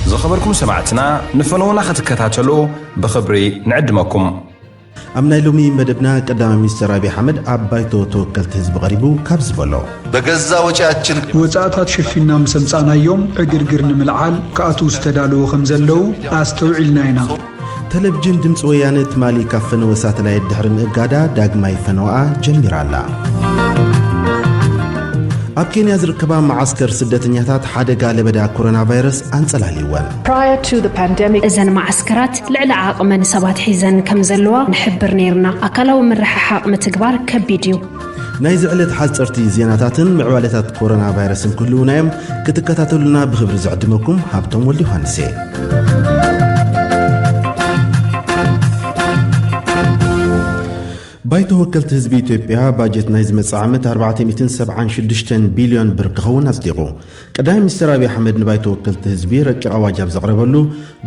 ዝኸበርኩም ሰማዕትና ንፈነዉና ክትከታተሉ ብኽብሪ ንዕድመኩም። ኣብ ናይ ሎሚ መደብና ቀዳማይ ሚኒስትር ኣብዪ ኣሕመድ ኣብ ባይቶ ተወከልቲ ህዝቢ ቀሪቡ ካብ ዝበሎ በገዛ ወጪያችን ወፃእታት ሸፊና ምስ ኣምፃእናዮም ዕግርግር ንምልዓል ክኣትዉ ዝተዳለዉ ከም ዘለዉ ኣስተውዒልና ኢና። ተለቪጅን ድምፂ ወያነ ትማሊ ካብ ፈነወ ሳተላይት ድሕሪ ምእጋዳ ዳግማይ ፈነወኣ ጀሚራ ኣላ። ኣብ ኬንያ ዝርከባ መዓስከር ስደተኛታት ሓደጋ ለበዳ ኮሮና ቫይረስ ኣንጸላልይወን እዘን መዓስከራት ልዕሊ ዓቕመን ሰባት ሒዘን ከም ዘለዋ ንሕብር ነይርና ኣካላዊ ምርሕሓቕ ምትግባር ከቢድ እዩ ናይዚ ዕለት ሓጸርቲ ዜናታትን ምዕባሌታት ኮሮና ቫይረስን ክህልዉና እዮም ክትከታተሉና ብክብሪ ዝዕድመኩም ሃብቶም ወልድ ዮሃንስ እየ ባይቶ ወከልቲ ህዝቢ ኢትዮጵያ ባጀት ናይ ዝመፅእ ዓመት 476 ቢልዮን ብር ክኸውን ኣጽዲቑ ቀዳማይ ሚኒስትር ኣብዪ ኣሕመድ ንባይቶ ወከልቲ ህዝቢ ረቂቕ ኣዋጅ ኣብ ዘቕረበሉ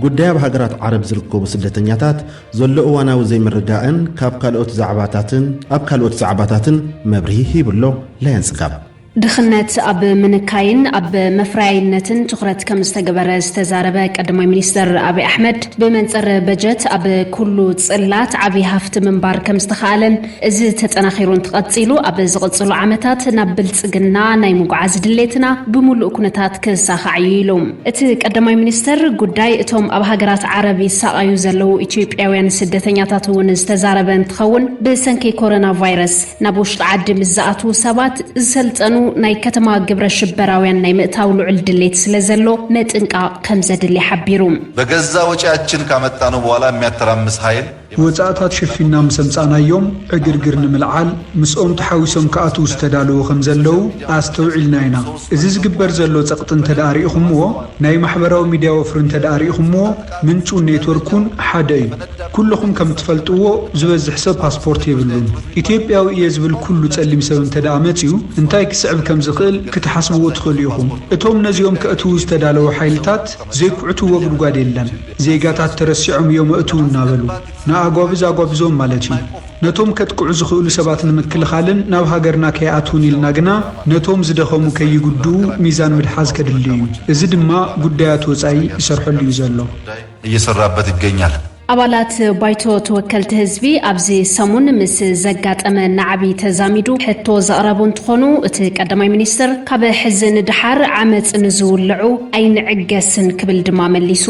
ጉዳይ ኣብ ሃገራት ዓረብ ዝርከቡ ስደተኛታት ዘሎ እዋናዊ ዘይምርዳእን ካብ ካልኦት ዛዕባታትን ኣብ ካልኦት ዛዕባታትን መብርሂ ሂቡ ኣሎ ላየን ጽጋብ። ድኽነት ኣብ ምንካይን ኣብ መፍረያይነትን ትኹረት ከምዝተገበረ ዝተዛረበ ቀዳማይ ሚኒስትር ኣቢይ ኣሕመድ፣ ብመንፅር በጀት ኣብ ኩሉ ፅላት ዓብዪ ሃፍቲ ምንባር ከምዝተኽኣለን እዚ ተጠናኺሩ እንትቐፂሉ ኣብ ዝቕፅሉ ዓመታት ናብ ብልፅግና ናይ ምጉዓዝ ድሌትና ብሙሉእ ኩነታት ክሳኻዕ እዩ ኢሉ። እቲ ቀዳማይ ሚኒስትር ጉዳይ እቶም ኣብ ሃገራት ዓረብ ይሳቐዩ ዘለዉ ኢትዮጵያውያን ስደተኛታት እውን ዝተዛረበ እንትኸውን ብሰንኪ ኮረና ቫይረስ ናብ ውሽጢ ዓዲ ምስ ዝኣትዉ ሰባት ዝሰልጠኑ ናይ ከተማ ግብረ ሽበራውያን ናይ ምእታው ልዑል ድሌት ስለዘሎ ምጥንቃቕ ከምዘድሊ ሓቢሩ። በገዛ ወጪያችን ካመጣነው በኋላ የሚያተራምስ ሀይል ወጻእታት ሸፊንና ምስ ኣምጻእናዮም ዕግርግር ንምልዓል ምስኦም ተሓዊሶም ክኣትዉ ዝተዳለዉ ከም ዘለዉ ኣስተውዒልና ኢና። እዚ ዝግበር ዘሎ ጸቕጢ እንተድኣ ርኢኹምዎ፣ ናይ ማሕበራዊ ሚድያ ወፍሪ እንተድኣ ርኢኹምዎ ምንጩን ኔትወርኩን ሓደ እዩ። ኩሉኹም ከም እትፈልጥዎ ዝበዝሕ ሰብ ፓስፖርት የብሉን። ኢትዮጵያዊ እየ ዝብል ኩሉ ጸሊም ሰብ እንተድኣ መጺኡ እንታይ ክስዕብ ከም ዝኽእል ክትሓስብዎ ትኽእሉ ኢኹም። እቶም ነዚኦም ከእትዉ ዝተዳለዉ ሓይልታት ዘይኩዕትዎ ጉድጓድ የለን። ዜጋታት ተረሲዖም እዮም ኣእትው እናበሉ ንኣጓብዝ ኣጓብዞም ማለት እዩ። ነቶም ከጥቅዑ ዝኽእሉ ሰባት ንምክልኻልን ናብ ሃገርና ከይኣትዉን ኢልና ግና ነቶም ዝደኸሙ ከይጉድኡ ሚዛን ምድሓዝ ከድሊ እዩ። እዚ ድማ ጉዳያት ወፃኢ ይሰርሐሉ እዩ ዘሎ። እየሰራበት ይገኛል። ኣባላት ባይቶ ተወከልቲ ህዝቢ ኣብዚ ሰሙን ምስ ዘጋጠመ ናዕቢ ተዛሚዱ ሕቶ ዘቕረቡ እንትኾኑ እቲ ቀዳማይ ሚኒስትር ካብ ሕዚ ንደሓር ዓመፅ ንዝውልዑ ኣይንዕገስን ክብል ድማ መሊሱ።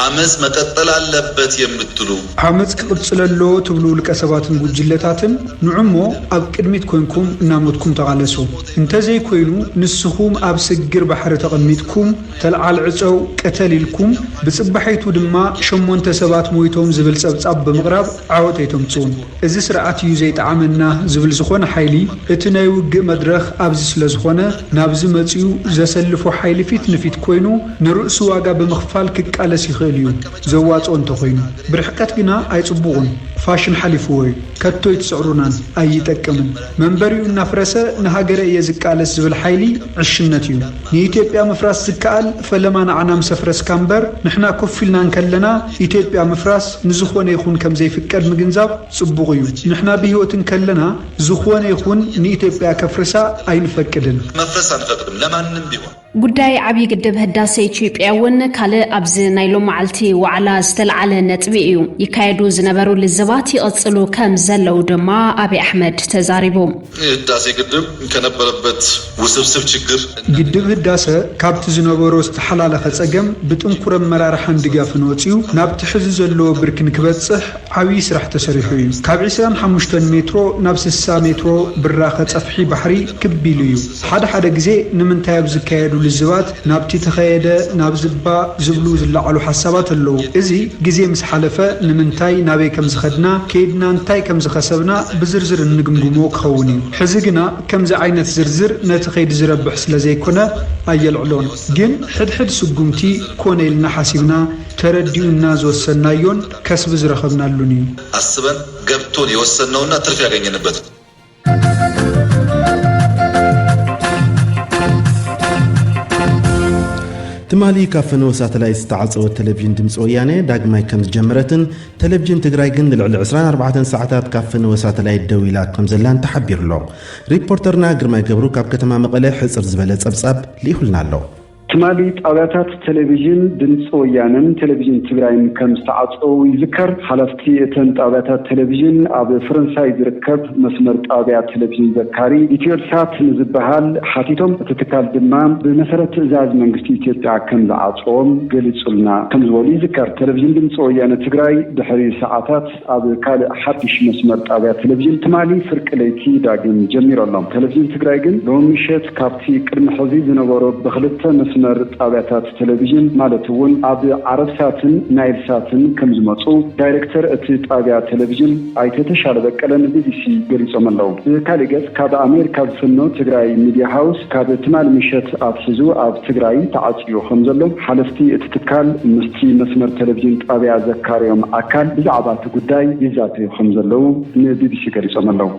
ዓመጽ መቀጠል ኣለበት የምትሉ? ዓመጽ ክቅጽል ኣለዎ ትብሉ ውልቀ ሰባትን ጉጅለታትን ንዑሞ ኣብ ቅድሚት ኮንኩም እናሞትኩም ተቃለሱ። እንተዘይ ኮይኑ ንስኹም ኣብ ስግር ባሕሪ ተቀሚጥኩም ተልዓል ዕጸው ቅተል ኢልኩም ብጽባሒቱ ድማ ሸሞንተ ሰባት ሞይቶም ዝብል ጸብጻብ ብምቅራብ ዓወት ኣይተምጽኡን። እዚ ስርዓት እዩ ዘይጠዓመና ዝብል ዝኾነ ሓይሊ እቲ ናይ ውግእ መድረኽ ኣብዚ ስለ ዝኾነ ናብዚ መጺኡ ዘሰልፎ ሓይሊ ፊት ንፊት ኮይኑ ንርእሱ ዋጋ ብምኽፋል ክቃለስ ይኽእል እዩ ዘዋጽኦ እንተኾይኑ። ብርሕቀት ግና ኣይጽቡቑን ፋሽን ሓሊፍዎ እዩ ከቶ ኣይትስዕሩናን ኣይጠቅምን መንበሪኡ እናፍረሰ ንሃገረ እየ ዝቃለስ ዝብል ሓይሊ ዕሽነት እዩ ንኢትዮጵያ ምፍራስ ዝከኣል ፈለማ ንዓና ምስ ኣፍረስካ እምበር ንሕና ኮፍ ኢልና እንከለና ኢትዮጵያ ምፍራስ ንዝኾነ ይኹን ከምዘይፍቀድ ምግንዛብ ፅቡቕ እዩ። ንሕና ብህይወት እንከለና ዝኾነ ይኹን ንኢትዮጵያ ከፍርሳ ኣይንፈቅድን። መፍረስ ኣንፈቅድም ለማንም ቢሆን። ጉዳይ ዓብዪ ግድብ ህዳሰ ኢትዮጵያ እውን ካልእ ኣብዚ ናይ ሎማዓልቲ ዋዕላ ዝተልዓለ ነጥቢ እዩ። ይካየዱ ዝነበሩ ልዝባት ይቕፅሉ ከምዘለዉ ድማ ኣብይ ኣሕመድ ተዛሪቡ። ህዳሴ ግድብ ከነበረበት ውስብስብ ችግር እና። ግድብ ህዳሰ ካብቲ ዝነበሮ ዝተሓላለኸ ፀገም ብጥንኩር ኣመራርሓን ድጋፍን ወፂኡ ናብቲ ሕዚ ዘለዎ ብርኪ ንክበፅሕ ዓብዪ ስራሕ ተሰሪሑ እዩ። ካብ ዕስራን ሓሙሽተን ሜትሮ ናብ ስሳ ሜትሮ ብራኸ ፀፍሒ ባሕሪ ክብ ኢሉ እዩ። ሓደ ሓደ ግዜ ንምንታይ ኣብ ዝካየዱ ልዝባት፣ ናብቲ ተኸየደ ናብ ዝባ ዝብሉ ዝለዓሉ ሓሳባት ኣለዉ። እዚ ግዜ ምስ ሓለፈ ንምንታይ ናበይ ከም ዝኸድና ከይድና እንታይ ከም ዝኸሰብና ብዝርዝር እንግምግሞ ክኸውን እዩ። ሕዚ ግና ከምዚ ዓይነት ዝርዝር ነቲ ከይዲ ዝረብሕ ስለ ዘይኮነ ኣየልዕሎን። ግን ሕድሕድ ስጉምቲ ኮነ ኢልና ሓሲብና ተረዲኡና ዝወሰንናዮን ከስቢ ዝረኸብናሉን እዩ። ኣስበን ገብቶን የወሰንነውና ትርፊ ያገኘንበት። ትማሊ ካብ ፈነወ ሳተላይት ዝተዓፀወት ቴሌቭዥን ድምፂ ወያነ ዳግማይ ከም ዝጀመረትን ቴሌቭዥን ትግራይ ግን ንልዕሊ 24 ሰዓታት ካብ ፈነወ ሳተላይት ደው ኢላ ከም ዘላን ተሓቢሩ ኣሎ። ሪፖርተርና ግርማይ ገብሩ ካብ ከተማ መቐለ ሕፅር ዝበለ ፀብፃብ ልኢኹልና ኣሎ። ትማሊ ጣብያታት ቴሌቪዥን ድምፂ ወያነን ቴሌቪዥን ትግራይን ከም ዝተዓፀዉ ይዝከር። ሓለፍቲ እተን ጣብያታት ቴሌቪዥን ኣብ ፈረንሳይ ዝርከብ መስመር ጣብያ ቴሌቪዥን ዘካሪ፣ ኢትዮልሳት ንዝበሃል፣ ሓቲቶም እቲ ትካል ድማ ብመሰረት ትእዛዝ መንግስቲ ኢትዮጵያ ከም ዝዓፀዎም ገሊፁልና ከም ዝበሉ ይዝከር። ቴሌቪዥን ድምፂ ወያነ ትግራይ ድሕሪ ሰዓታት። ኣብ ካልእ ሓድሽ መስመር ጣብያ ቴሌቪዥን ትማሊ ፍርቂ ለይቲ ዳግም ጀሚሩ ኣሎ። ቴሌቪዥን ትግራይ ግን ሎሚ ምሸት ካብቲ ቅድሚ ሕዚ ዝነበሮ ብኽልተ መስመር ጣብያታት ቴሌቪዥን ማለት እውን ኣብ ዓረብሳትን ናይልሳትን ከምዝመፁ ዳይሬክተር እቲ ጣብያ ቴሌቪዥን ኣይተ ተሻለ በቀለ ንቢቢሲ ገሊፆም ኣለው። ብካሊእ ገፅ ካብ ኣሜሪካ ዝፍኖ ትግራይ ሚድያ ሃውስ ካብ ትማሊ ምሸት ኣትሒዙ ኣብ ትግራይ ተዓፅዩ ከምዘሎ ሓለፍቲ እቲ ትካል ምስቲ መስመር ቴሌቪዥን ጣቢያ ዘካረዮም ኣካል ብዛዕባ እቲ ጉዳይ ይዛተዩ ከምዘለዉ ንቢቢሲ ገሊፆም ኣለው።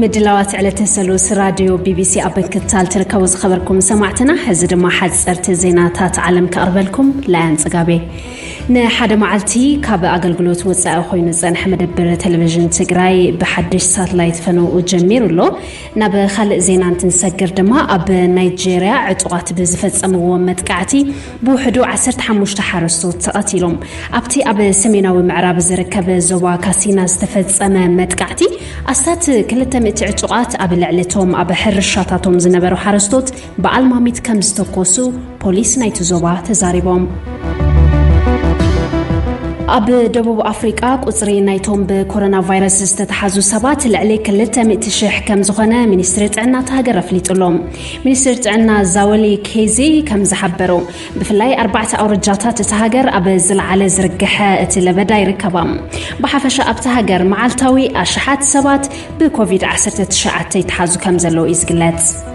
ምድላዋት ዕለተ ሰሉስ ራድዮ ቢቢሲ ኣብ ምክትታል ትርከቡ ዝኸበርኩም ሰማዕትና ሕዚ ድማ ሓፀርቲ ዜናታት ዓለም ከቕርበልኩም ላያን ጽጋቤ ንሓደ መዓልቲ ካብ ኣገልግሎት ወፃኢ ኮይኑ ዝፀንሐ መደብር ቴሌቭዥን ትግራይ ብሓድሽ ሳትላይት ፈነውኡ ጀሚሩ ኣሎ። ናብ ካልእ ዜና እንትንሰግር ድማ ኣብ ናይጀርያ ዕጡቓት ብዝፈፀምዎ መጥቃዕቲ ብውሕዱ 15 ሓረስቶት ተቐቲሎም። ኣብቲ ኣብ ሰሜናዊ ምዕራብ ዝርከብ ዞባ ካሲና ዝተፈፀመ መጥቃዕቲ ኣስታት 200 ዕጡቓት ኣብ ልዕሊ እቶም ኣብ ሕርሻታቶም ዝነበሩ ሓረስቶት በዓል ማሚት ከም ዝተኮሱ ፖሊስ ናይቲ ዞባ ተዛሪቦም። ኣብ ደቡብ ኣፍሪቃ ቁጽሪ ናይቶም ብኮሮና ቫይረስ ዝተተሓዙ ሰባት ልዕሊ 200 ሽሕ ከም ዝኾነ ሚኒስትሪ ጥዕና እታ ሃገር ኣፍሊጡ ኣሎ። ሚኒስትር ጥዕና ዛወሊ ኬዚ ከም ዝሓበሮ ብፍላይ ኣርባዕተ ኣውርጃታት እታ ሃገር ኣብ ዝለዓለ ዝርግሐ እቲ ለበዳ ይርከባ። ብሓፈሻ ኣብታ ሃገር መዓልታዊ ኣሽሓት ሰባት ብኮቪድ-19 ይተሓዙ ከም ዘለዉ እዩ ዝግለጽ።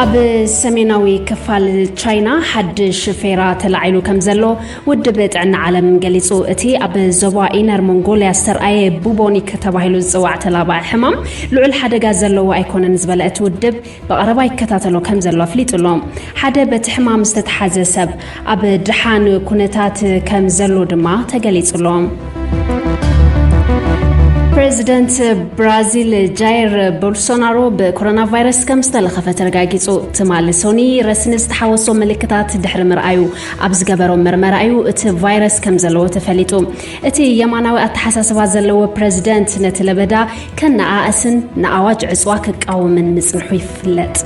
ኣብ ሰሜናዊ ክፋል ቻይና ሓድሽ ፌራ ተላዒሉ ከም ዘሎ ውድብ ጥዕና ዓለም ገሊጹ እቲ ኣብ ዞባ ኢነር ሞንጎልያ ዝተርኣየ ቡቦኒክ ተባሂሉ ዝፅዋዕ ተላባዒ ሕማም ልዑል ሓደጋ ዘለዎ ኣይኮነን ዝበለ እቲ ውድብ ብቐረባ ይከታተሎ ከም ዘሎ ኣፍሊጡ ኣሎ ሓደ በቲ ሕማም ዝተተሓዘ ሰብ ኣብ ድሓን ኩነታት ከም ዘሎ ድማ ተገሊጹሎም። ፕረዚደንት ብራዚል ጃይር ቦልሶናሮ ብኮሮና ቫይረስ ከም ዝተለኸፈ ተረጋጊጹ። ትማሊ ሶኒ ረስኒ ዝተሓወሶ ምልክታት ድሕሪ ምርኣዩ ኣብ ዝገበሮ መርመራ እዩ እቲ ቫይረስ ከም ዘለዎ ተፈሊጡ። እቲ የማናዊ ኣተሓሳስባ ዘለዎ ፕረዚደንት ነቲ ለበዳ ከነኣእስን ንኣዋጅ ዕፅዋ ክቃወምን ምጽንሑ ይፍለጥ።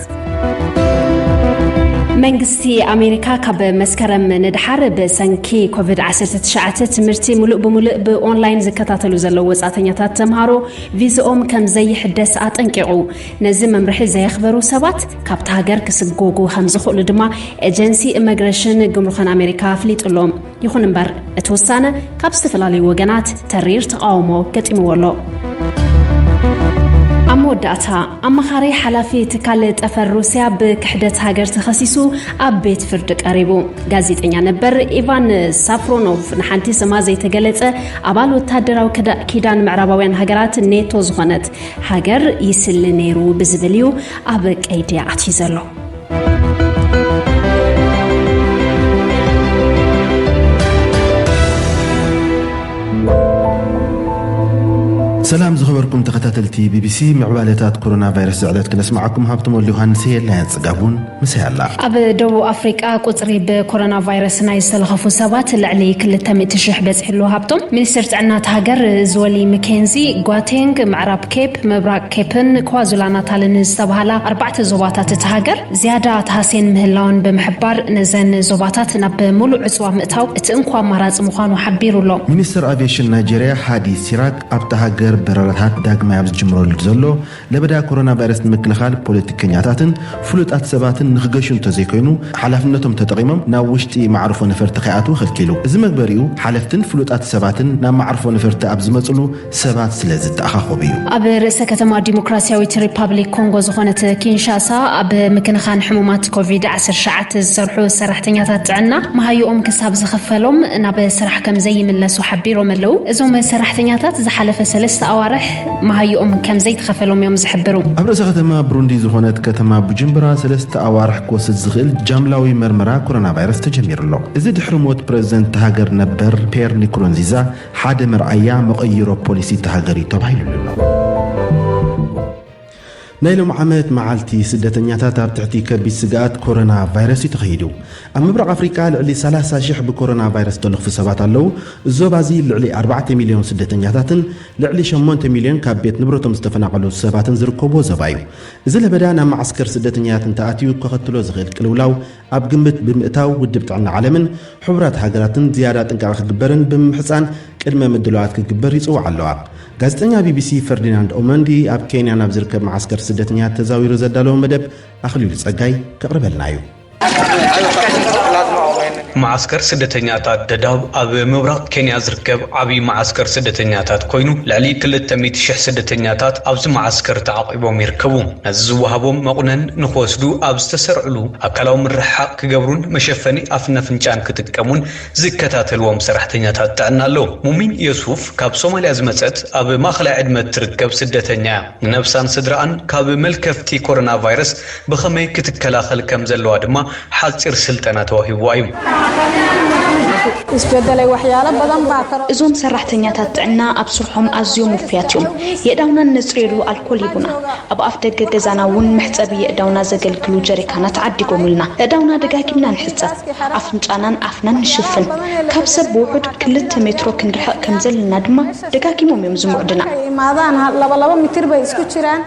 መንግስቲ ኣሜሪካ ካብ መስከረም ንድሓር ብሰንኪ ኮቪድ-19 ትምህርቲ ሙሉእ ብሙሉእ ብኦንላይን ዝከታተሉ ዘለዉ ወፃእተኛታት ተምሃሮ ቪዝኦም ከም ዘይሕደስ ኣጠንቂቑ። ነዚ መምርሒ ዘየኽበሩ ሰባት ካብቲ ሃገር ክስጎጉ ከም ዝኽእሉ ድማ ኤጀንሲ ኢመግሬሽን ግምሩኽን ኣሜሪካ ኣፍሊጡሎም። ይኹን እምበር እቲ ውሳነ ካብ ዝተፈላለዩ ወገናት ተሪር ተቓውሞ ገጢምዎ ኣሎ። ኣብ መወዳእታ ኣማኻሪ ሓላፊ ትካል ጠፈር ሩስያ ብክሕደት ሃገር ተኸሲሱ ኣብ ቤት ፍርዲ ቀሪቡ። ጋዜጠኛ ነበር ኢቫን ሳፍሮኖቭ ንሓንቲ ስማ ዘይተገለጸ ኣባል ወታደራዊ ኪዳን ምዕራባውያን ሃገራት ኔቶ ዝኾነት ሃገር ይስሊ ነይሩ ብዝብል እዩ ኣብ ቀይዲ ኣትዩ ዘሎ። ሰላም ዝኸበርኩም ተኸታተልቲ ቢቢሲ ምዕባለታት ኮሮና ቫይረስ ዝዕለት ክነስማዓኩም ሃብቶም ወልድ ዮሃንስ የላያ ጽጋቡን ምሳይ ኣላ ኣብ ደቡብ ኣፍሪቃ ቁፅሪ ብኮሮና ቫይረስ ናይ ዝተለኸፉ ሰባት ልዕሊ 200 ሽሕ በፂሑ ኣሎ ሃብቶም ሚኒስትር ጥዕና እቲ ሃገር ዝወሊ ምኬንዚ ጓቴንግ ምዕራብ ኬፕ ምብራቕ ኬፕን ኳዙላናታልን ዝተብሃላ ኣርባዕተ ዞባታት እታ ሃገር ዝያዳ ተሃስየን ምህላወን ብምሕባር፣ ነዘን ዞባታት ናብ ምሉእ ዕጽዋ ምእታው እቲ እንኮ ኣማራጺ ምዃኑ ሓቢሩ ኣሎ። ሚኒስተር ኣቪየሽን ናይጀርያ ሃዲ ሲራክ፣ ኣብታ ሃገር በረራታት ዳግማይ ኣብ ዝጅምረሉ ዘሎ፣ ለበዳ ኮሮናቫይረስ ንምክልኻል ፖለቲከኛታትን ፍሉጣት ሰባትን ንኽገሹ እንተዘይኮይኑ ሓላፍነቶም ተጠቒሞም ናብ ውሽጢ መዓርፎ ነፈርቲ ከይኣትዉ ከልኪሉ። እዚ መግበሪኡ ሓለፍትን ፍሉጣት ሰባትን ናብ መዓርፎ ነፈርቲ ኣብ ዝመጽሉ፣ ሰባት ስለ ዝተኣኻኸቡ እዩ። ኣብ ርእሰ ከተማ ዲሞክራሲያዊት ሪፓብሊክ ኮንጎ ዝኾነት ኪንሻሳ ኣብ ምክንኻን ሕሙማት ኮቪድ ዓሰርተ ትሽዓተ ዝሰርሑ ሰራሕተኛታት ጥዕና መሃዩኦም ክሳብ ዝኽፈሎም ናብ ስራሕ ከም ዘይምለሱ ሓቢሮም ኣለው። እዞም ሰራሕተኛታት ዝሓለፈ ሰለስተ ኣዋርሕ መሃዩኦም ከም ዘይተኸፈሎም እዮም ዝሕብሩ። ኣብ ርእሰ ከተማ ብሩንዲ ዝኾነት ከተማ ቡጁምብራ ሰለስተ ኣዋርሕ ክወስድ ዝኽእል ጃምላዊ መርመራ ኮሮናቫይረስ ተጀሚሩ ኣሎ። እዚ ድሕሪ ሞት ፕረዚደንት እታ ሃገር ነበር ፒየር ኒኩሩንዚዛ፣ ሓደ መርኣያ መቐይሮ ፖሊሲ እታ ሃገር እዩ ተባሂሉሉ'ሎ። ናይ ሎም ዓመት መዓልቲ ስደተኛታት ኣብ ትሕቲ ከቢድ ስግኣት ኮሮና ቫይረስ እዩ ተኸይዱ። ኣብ ምብራቕ ኣፍሪቃ ልዕሊ 30 ሽሕ ብኮሮና ቫይረስ ዝተለኽፉ ሰባት ኣለዉ። ዞባ እዚ ልዕሊ 4 ሚልዮን ስደተኛታትን ልዕሊ 8 ሚልዮን ካብ ቤት ንብረቶም ዝተፈናቐሉ ሰባትን ዝርከብዎ ዞባ እዩ። እዚ ለበዳ ናብ መዓስከር ስደተኛታት እንተኣትዩ ከኸትሎ ዝኽእል ቅልውላው ኣብ ግምት ብምእታው ውድብ ጥዕና ዓለምን ሕቡራት ሃገራትን ዝያዳ ጥንቃቐ ክግበርን ብምምሕጻን ቅድመ ምድላዋት ክግበር ይጽውዓ ኣለዋ። ጋዜጠኛ ቢቢሲ ፈርዲናንድ ኦመንዲ ኣብ ኬንያ ናብ ዝርከብ መዓስከር ስደተኛታት ተዛዊሩ ዘዳለዎ መደብ ኣኽሊሉ ጸጋይ ከቕርበልና እዩ። መዓስከር ስደተኛታት ደዳብ ኣብ ምብራቕ ኬንያ ዝርከብ ዓብዪ መዓስከር ስደተኛታት ኮይኑ ልዕሊ ክልተ ሚእቲ ሽሕ ስደተኛታት ኣብዚ መዓስከር ተዓቝቦም ሂቦም ይርከቡ። ነዚ ዝወሃቦም መቑነን ንክወስዱ ኣብ ዝተሰርዕሉ ኣካላዊ ምርሕሓቕ ክገብሩን መሸፈኒ ኣፍን ኣፍንጫን ክጥቀሙን ዝከታተልዎም ሰራሕተኛታት ጥዕና ኣለዉ። ሙሚን የሱፍ ካብ ሶማልያ ዝመጸት ኣብ ማእኸላይ ዕድመ እትርከብ ስደተኛ እያ። ንነብሳን ስድርኣን ካብ መልከፍቲ ኮሮናቫይረስ ብኸመይ ክትከላኸል ከም ዘለዋ ድማ ሓጺር ስልጠና ተዋሂቡዋ እዩ። እዞም ሰራሕተኛታት ጥዕና ኣብ ስርሖም ኣዝዮም ውፉያት እዮም። የእዳውና እነጽርየሉ ኣልኮል ሂቡና። ኣብ ኣፍደገ ገዛና እውን መሕጸቢ የእዳውና ዘገልግሉ ጀሪካናት ዓዲጎምልና። የእዳውና ደጋጊምና ንሕጸብ። ኣፍንጫናን ኣፍናን ንሽፍን። ካብ ሰብ ብውሑድ ክልተ ሜትሮ ክንርሕቕ ከም ዘለና ድማ ደጋጊሞም እዮም ዝምዑድና። Markay imaadaan ha- laba laba mitir bay isku jiraan.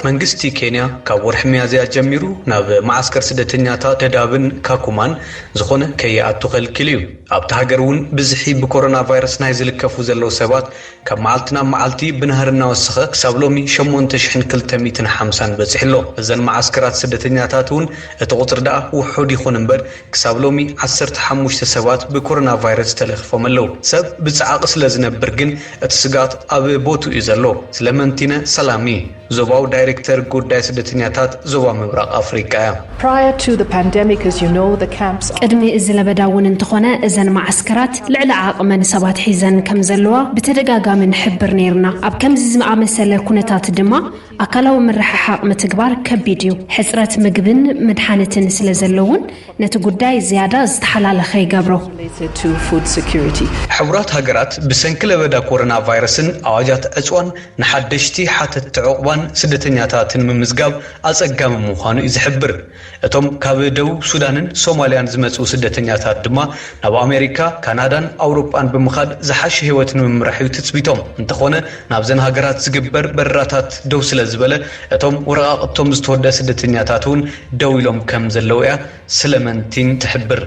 መንግስቲ ኬንያ ካብ ወርሒ ሚያዝያ ጀሚሩ ናብ መዓስከር ስደተኛታ ደዳብን ካኩማን ዝኾነ ከይኣቱ ከልኪሉ እዩ። ኣብታ ሃገር እውን ብዝሒ ብኮሮና ቫይረስ ናይ ዝልከፉ ዘለዉ ሰባት ካብ መዓልቲ ናብ መዓልቲ ብናህሪ እናወሰኸ ክሳብ ሎሚ ሸሞንተ ሽሕን ክልተ ሚእትን ሓምሳን በፂሑ ኣሎ። እዘን መዓስከራት ስደተኛታት እውን እቲ ቁፅሪ ደኣ ውሑድ ይኹን እምበር ክሳብ ሎሚ ዓሰርተ ሓሙሽተ ሰባት ብኮሮናቫይረስ ተለኺፎም ኣለው። ሰብ ብጸዓቂ ስለ ዝነብር ግን እቲ ስግኣት ኣብ ቦትኡ'ዩ ዘሎ። ስለመንቲነ ሰላሚ፣ ዞባዊ ዳይረክተር ጉዳይ ስደተኛታት ዞባ ምብራቕ ኣፍሪቃ'ያ። Prior to the pandemic, as you know, the camps are. ቅድሚ እዚ ለበዳ እውን እንተኾነ እዘን መዓስከራት ልዕሊ ዓቕመን ሰባት ሒዘን ከምዘለዋ ብተደጋጋሚ ንሕብር ነይርና። ኣብ ከምዚ ዝኣመሰለ ኩነታት ድማ ኣካላዊ ምርሕሓቕ ምትግባር ከቢድ እዩ። ሕጽረት ምግብን መድሓኒትን ስለ ዘሎ እውን ነቲ ጉዳይ ዝያዳ ዝተሓላለኸ ይገብሮ። ሕቡራት ሃገራት ብሰንኪ ለበዳ ኮረና ቫይረስን ኣዋጃት ዕጽዋን ንሓደሽቲ ሓተትቲ ዑቕባን ስደተኛታትን ምምዝጋብ ኣጸጋሚ ምዃኑ እዩ ዝሕብር። እቶም ካብ ደቡብ ሱዳንን ሶማልያን ዝመጽኡ ስደተኛታት ድማ ናብ ኣሜሪካ፣ ካናዳን ኣውሮጳን ብምኻድ ዝሓሸ ህይወት ንምምራሕ'ዩ ትጽቢቶም። እንተኾነ ናብዘን ሃገራት ዝግበር በረራታት ደው ስለዝበለ እቶም ወረቓቕቶም ዝተወድኣ ስደተኛታት'ውን ደው ኢሎም ከምዘለዉ'ያ ስለመንቲን ትሕብር።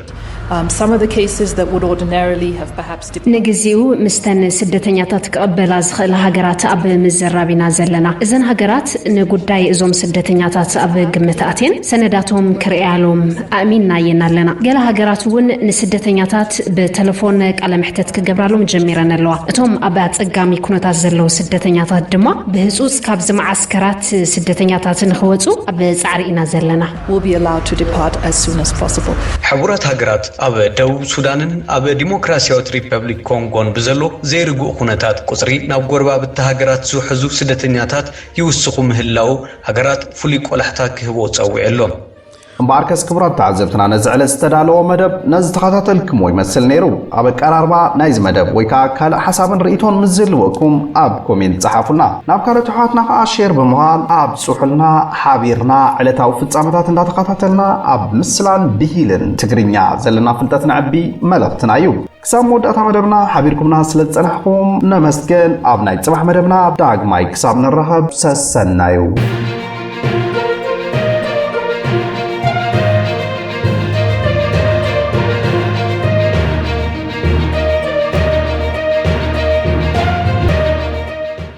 ንግዚኡ ምስተን ስደተኛታት ክቕበላ ዝኽእላ ሃገራት ኣብ ምዝራብ ኢና ዘለና። እዘን ሃገራት ንጉዳይ እዞም ስደተኛታት ኣብ ግምት ኣእትየን ሰነዳቶም ክርእያሎም ኣእሚንናየን ኣለና። ገለ ሃገራት እውን ንስደተኛታት ብተለፎን ቃለ መሕተት ክገብራሎም ጀሚረን ኣለዋ። እቶም ኣብ ኣጸጋሚ ኩነታት ዘለዉ ስደተኛታት ድማ ብህጹጽ ካብዚ መዓስከራት ስደተኛታት ንኽወጹ ኣብ ጻዕሪ ኢና ዘለና። will be allowed to depart as soon as possible. ሕቡራት ሃገራት ኣብ ደቡብ ሱዳንን ኣብ ዲሞክራስያዊት ሪፐብሊክ ኮንጎን ብዘሎ ዘይርጉእ ኩነታት ቁጽሪ ናብ ጎረባብቲ ሃገራት ዝውሕዙ ስደተኛታት ይውስኹ ምህላዉ ሃገራት ፍሉይ ቆላሕታ ክህቦ ጸዊዑ ኣሎ። እምበኣርከስ ክቡራት ተዓዘብትና ነዚ ዕለት ዝተዳለወ መደብ ነዚ ተኸታተልክምዎ ይመስል ነይሩ። ኣብ ኣቀራርባ ናይዚ መደብ ወይ ከኣ ካልእ ሓሳብን ርኢቶን ምስ ዝህልወኩም ኣብ ኮሜንት ጸሓፉልና። ናብ ካልኦት ኣሕዋትና ከኣ ሼር ብምባል ኣብ ጽሑልና ሓቢርና ዕለታዊ ፍጻመታት እንዳተኻታተልና ኣብ ምስላን ብሂልን ትግርኛ ዘለና ፍልጠት ነዕቢ መልእኽትና እዩ። ክሳብ መወዳእታ መደብና ሓቢርኩምና ስለ ዝጸናሕኩም ነመስገን። ኣብ ናይ ጽባሕ መደብና ዳግማይ ክሳብ ንራኸብ ሰሰናዩ።